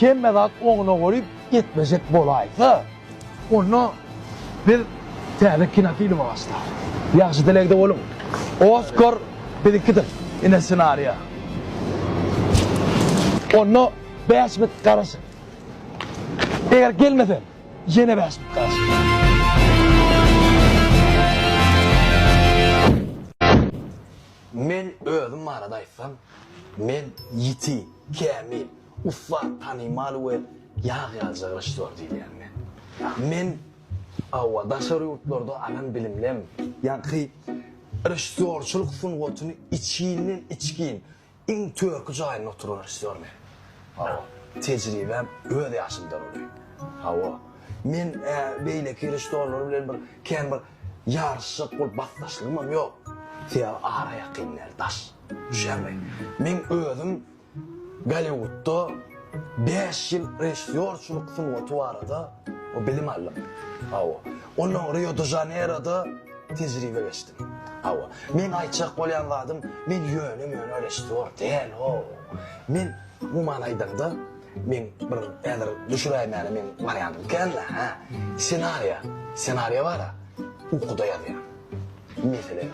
Hemme zat oňuna goýup ýetmejek bolaýsa, onda biz täze kinofilme başlarys. Ýagşy dilegde boluň. Oskar biziňkidir, ine ssenariýa. Onda bäş münt garaşyň. Eger gelmesem, ýene bäş münt garaşyň. Men özüm barada aýtsam, men ýiti, kämil. Ussat, tanymal we ýag ýalyja režissýor diýilýän men. Men, hawa, daşary ýurtlarda alan bilimlem, ýaňky režissýorçylyk sungatyny içinden-içgin iň törki jaýynda oturan režissýor men. Hawa, tejribäm öz ýaşymdan uly. Hawa, men beýleki režissýorlar bilen bir kän bir ýaryşjak bolup basdaşlygymam ýok. Sebäbi ara ýakyn däl, daş düşermi. Men özüm Golliwudda bäş ýyl režissýorçylyk sungaty barada bilim aldym. Hawa. Onsoň Rio-de-Žaneýroda tejribe geçdim. Hawa. Meň aýtjak bolýan zadym, men ýöne-möne režissýor däl-ow. Men, umuman aýdaňda, men bir häzir düşüräýmäne meň barýanym kän-le, hä. Ssenariýa, ssenariýa bar-a, ukuda ýazýan. Meselem,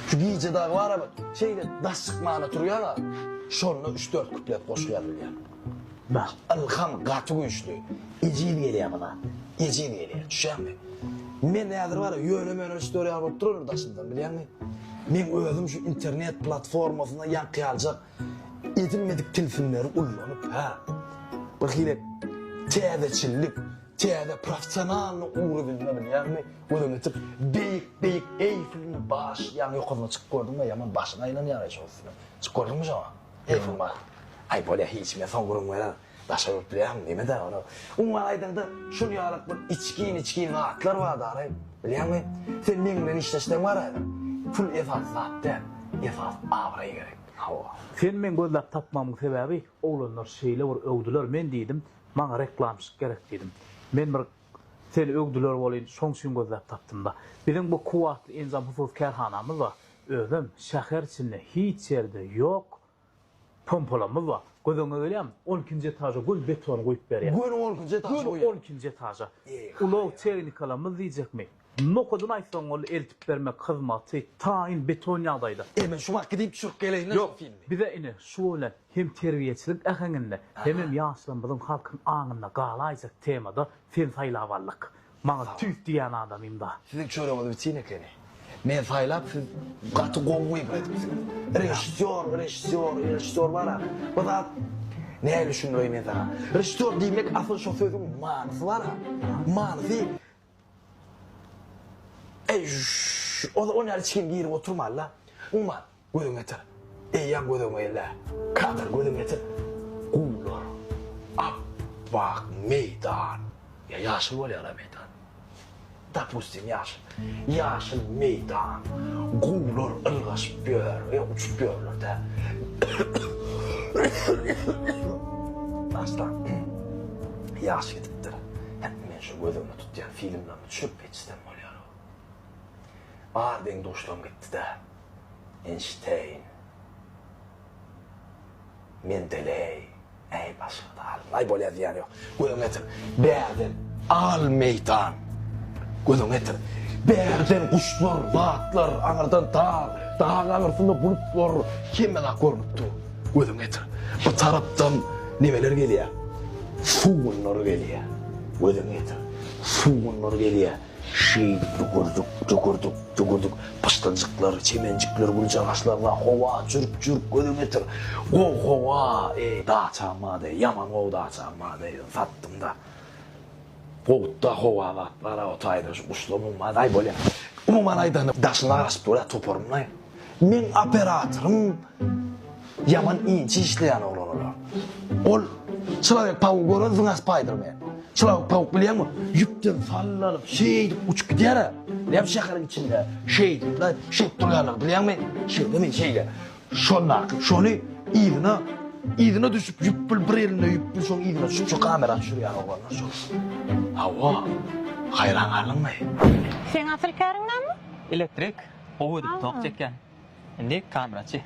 şu gije dagy bar-a bir şeýle daş çykmana turýar-a, şonda üç-dört kuplet goşgy ýazylýar. Bah, ylham gaty güýçli, ejiz gelýär bu zat, ejiz gelýär, düşýäňmi? Men häzir bar-a ýöne-möne üç-dört ýaly bolup duraryn daşyndan, bilýäňmi? Men özüm şu internet platformasynda ýaňkyýaljak edilmedik tilsimleri ullanyp, hä, birhili täzeçillik, täze professionalnyý ugrudynda, bilýäňmi, Gözüňi açyp beýik beýik eýfilini baş ýaňy ýokaryna çykyp gördüňmi ýaman başyň aýlanýar eý şoň üstüne çykyp gördüňmi şoňa eýfil ba aý bolýa hiç men soň gürrüň bererin daşary ýurt bilýäňmi nemedä ony umuman aýdaňda şul ýalyk bir içgin içgin zatlar bar daraý bilýäňmi sen meň bilen işleşseň bar häzir pul esasy zat däl esas abraý gerek hawa. Sen meň gözläp tapmamyň sebäbi oglanlar şeýle bir öwdüler men diýdim maňa reklamşyk gerek diýdim men bir Seni öwdüler welin, şoň üçin gözläp tapdym-da. Biziň bu kuwwatly enjam hususy kärhanamyz bar. Özem şäher içinde hiç ýerde ýok pompalamyz bar. Gözüňe gelýärmi? On ikinji etaža göni betony guýup berýär. Göni on ikinji etaža guýýar? Göni on ikinji etaža. Ulag tehnikalarymyz diýjekmi? Nohudyny aýtsaň ol eltip bermek hyzmaty taýyn beton ýagdaýda. Eý men şu wagt gidip düşürip geleýinle şol filmi. Bize ine şu bilen hem terbiýeçilik äheňinde hemem ýaşlarymyzyň halkyň aňynda galaýjak temada seni saýlap aldyk. Maňa tüýs diýýän adamymda. Siziň çöregiňiz bitin ekeni. Men saýlap siz gaty gowy wybr edipsiňiz. Režissýor, režissýor, režissýor bar-a. Bir zat nädip düşündireýin men saňa. Režissýor diýmek asyl şo sözüň manysy bar-a. Manysy Eý, ol ol ýaly çigim girip oturman-la. Uman, gözüňi ýetir. Eýýäm gözegime geldi-ä. Kadar, gözüňi ýetir. Guwlar, ap-ak meýdan. Ýa ýaşyl bolýar-a meýdan. Dopustim, ýaşyl. Ýaşyl meýdan. Guwlar ylgaşyp ýör, ýa uçup ýörler-dä. Daşdan ýaş gidipdir. Göz öňüňe tut ýa filmden düşürip geçsem bolýar. Bar deň duşlaň gitdidä. Enşteýn. Mendeleý. Äý başgada Allaý bolýa diýýän ýok. Göz öňüňe getir. Bärden al meýdan. Göz öňüňe getir. Bärden guşlar, batlar, aňyrdan dag, dagyň aňyrsynda bulutlar, hemmenak görnüp dur. Gözüňi getir. Bu tarapdan nemeler gelýär? Sugunlar gelýär. Gözüňi getir. Sugunlar gelýär. Şeýdip dügürdük, dügürdük, dügürdük. Pyşdyljyklar, çemenjikler, güljagaçlar bar. Howa, jürk, jürk, gözüňi getir. Gowy howa, eý, daçam bar-da, ýaman gowy daçam bar-da, ýöne satdym-da. Gowut-da howa zat bar-a o taýda, şu guşlar umman, aý, bolýar. Umuman aýdanda, daşyny araşyp dur-a toparyň-laý. Meň operatorym ýaman inçe işleýän oglan olar. Ol çylawek tawugy gören zyňas Spaýdermen. Çylawek tawuk bilýäňmi? Ýüpden sallanyp, şeýdip uçup gidýär-ä. Näme şäheriň içinde şeýdip-le, şeýdip durýarlar bilýäňmi? Şeýlemi, şeýle. Şondaky şony yzyna, yzyna düşüp ýüp bil bir elinde ýüp bil şoň yzyna düşüp şu kamera düşürýän oglanlar şol. Hawa. Haýran galdyňmy? Seň asyl käriň näme? Elektrik. Gowy edip tok çekýän. Indi kameraçy.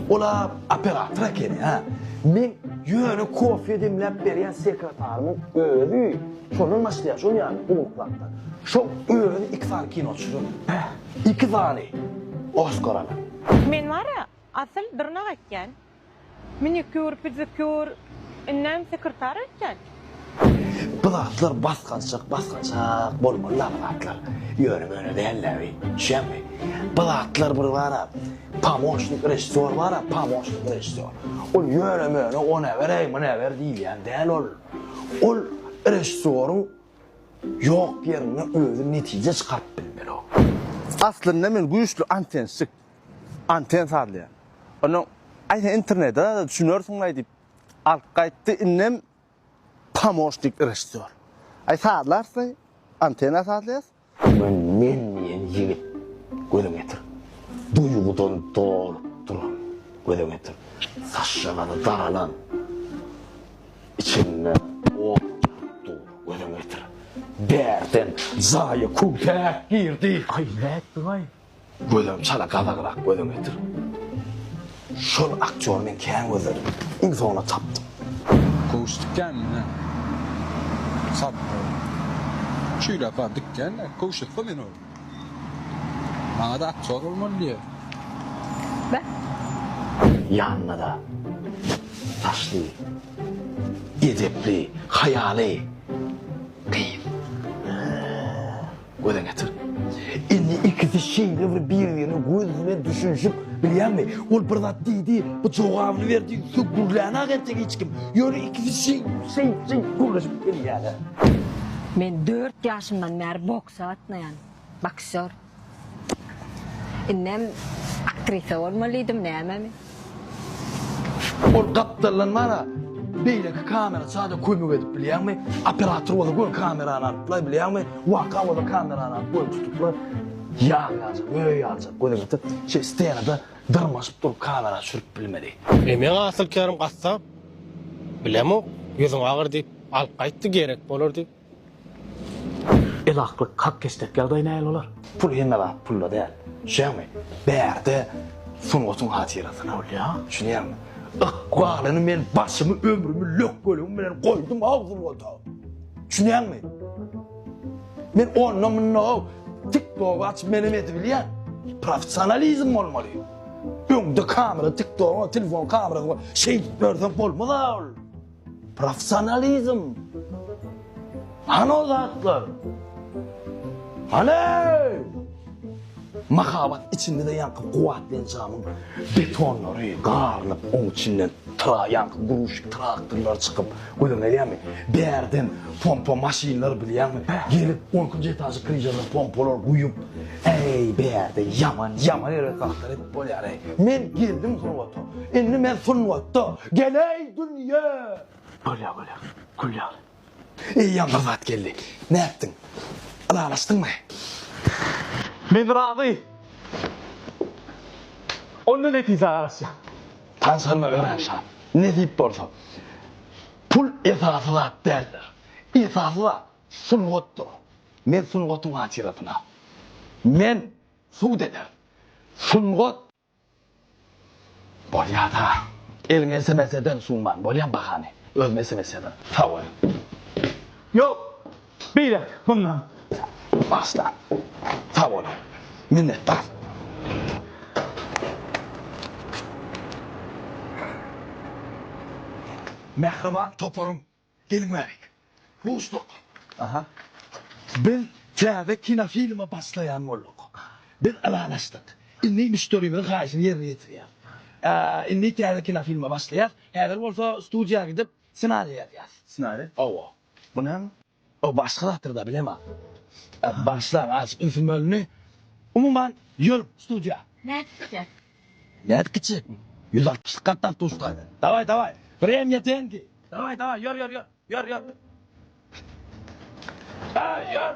Ol-a operator ekeni, hä? Meň ýöne kofe demläp berýän sekretarynyň özi şondan başlaýar, şol ýaly gulluklapdyr. Şol özi iki sany kino çyzyp, iki sany Oskar alan. Men bar-a, asyl dyrnak ekýän. Minikür, püzükür, indem sekretar öýtýän. Bu zatlar basgançak basgançak bolmaly la bu zatlar ýöne möne däl dä bi düşýäňmi bu zatlar bir bara pamoşnik režissýor bara pamoşnik režissýor ol ýöne möne ony äberäý muny äber diýilýän däl ol ol režissýoryň ýok ýerinde özi netije çykaryp bilmeli ol. Aslynda men güýçli antensik, Anten sazlaýar. Onnoň, Aý, sen internete zada düşünersiň-laý diýip, alyp gaýtdy, indem pomoşnik režissýor. Aý, sazlarys-laý, antena sazlaýarys. Men men diýen ýigit göze getir. Duýgudan dolup duran göze getir. Saçjalary daralan, içinde ot ýanyp dur göze getir. Bärden jaýa köwsäk girdi. Aý, nätdiň-aý? Gözüm çala gazagrak gözün getir. Şol aktýor men kän gözledim. Iň soňunda tapdym. Kowuşdyk ýa ine. Sapar. Şeýle bar dikgende kowuşasy men ol. Maňada aktýor bolmaly diýe. Beh. Ýanynada daşly edepli haýaly gyz. Göze getir. Indi ikisi şeýle bir bir-birine göz bilen düşünişip bilýärmi? Ol bir zat diýdi, bu jogabyny berdi, şu gürlänä ertek hiç kim. Ýöne ikisi şeý, şeý, şeý gürleşip bilýärler. Men dört ýaşymdan bäri boksa gatnaýan. Boksýor. Indem aktrisa bolmalyydym, nämemi? Ol gapdaldan mana beýleki kamera çada kömek edip bilýärmi? Operator bolsa gör kamerany alypla bilýärmi? Waka bolsa kamerany alyp göni tutupla. Ýag ýaljak, öý ýaljak göni tutup, şeý stenada dyrmaşyp durup kamera çürüp bilmedi. Emeň asylkärim gassap, bilemok, ýüzüň agyr diýip, alyp gaýtdy, gerek bolar diýip. Elaklyk, hakkeşdek ýagdaý nähili bolar? Pul hemme zat pulda däl. Düşýäňmi? Bärde sungatyň hatyrasyna ol ýa. Düşünýäňmi? Ykbalyny men başymy, ömrümi lökgeligiň bilen goýdum how sungato. Düşünýäňmi? Men onda munda how tik togy açyp menem edibilýän. Professionalizm bolmaly. Öňde kamera tik togyň, telefon kamerasy bar. Şeýdip ýörseň bolmaz how ol. Professionalizm! Hany o zatlar? Hany! Mahabat içiňde ýaňky kuwwatly enjamyň betonlary garylyp, oň içinden tra ýaňky gruzçik traktorlar çykyp, gözüňe gelýärmi? Bärden pompa maşynlar bilýäňmi? Gelip, on ikinji etažy kryžarda pompalar guýup, Äý, bärde ýaman, ýaman ýere zahtar edip bolýar-eý. Men geldim surbata. Indi men sungatda. Geläý dünýä! Bolýar, bolýar. Gül ýaly. Eýýäm bir zat geldi. Nätdiň? Ylalaşdyňmy? Men razy. Onda netijä garaşýan. Tanyşanyma garaşýan. Nesip bolsa. Pul esasy zat däldir. Esasy zat. Sungatdyr. Men sungatyň hatyrasyna. Men sud eder. Sungat. Bolýada. Eliň esemeseden suwman bolýan bahany. Özüm esemeseden. Sag bol. Ýok. Beýläk. Mundan. Başda. Sag bol. Minnetdar. Mähriban toparyň Gelňärik. Rusduk. Aha. Biz täze kinofilme başlaýan bolduk. Biz ylalaşdyk. Indi müşderimiziň haýyşyny ýerine ýetirýäs. Indi täze kinofilme başlaýas. Häzir bolsa studiýa gidip, ssenariý ýazýas. Ssenariý? Hawa. Bu näme? O başga zatyrda bilema. Başlar aç ösmölini umuman ýör studiýa. Nädip gitjek? Nädip gitjek? Ýüz altmyşlyk gatdan tuşlaýda. Daway daway. Wremýa dendi. Daway daway ýör ýör ýör. Ýör ýör. Daý ýör.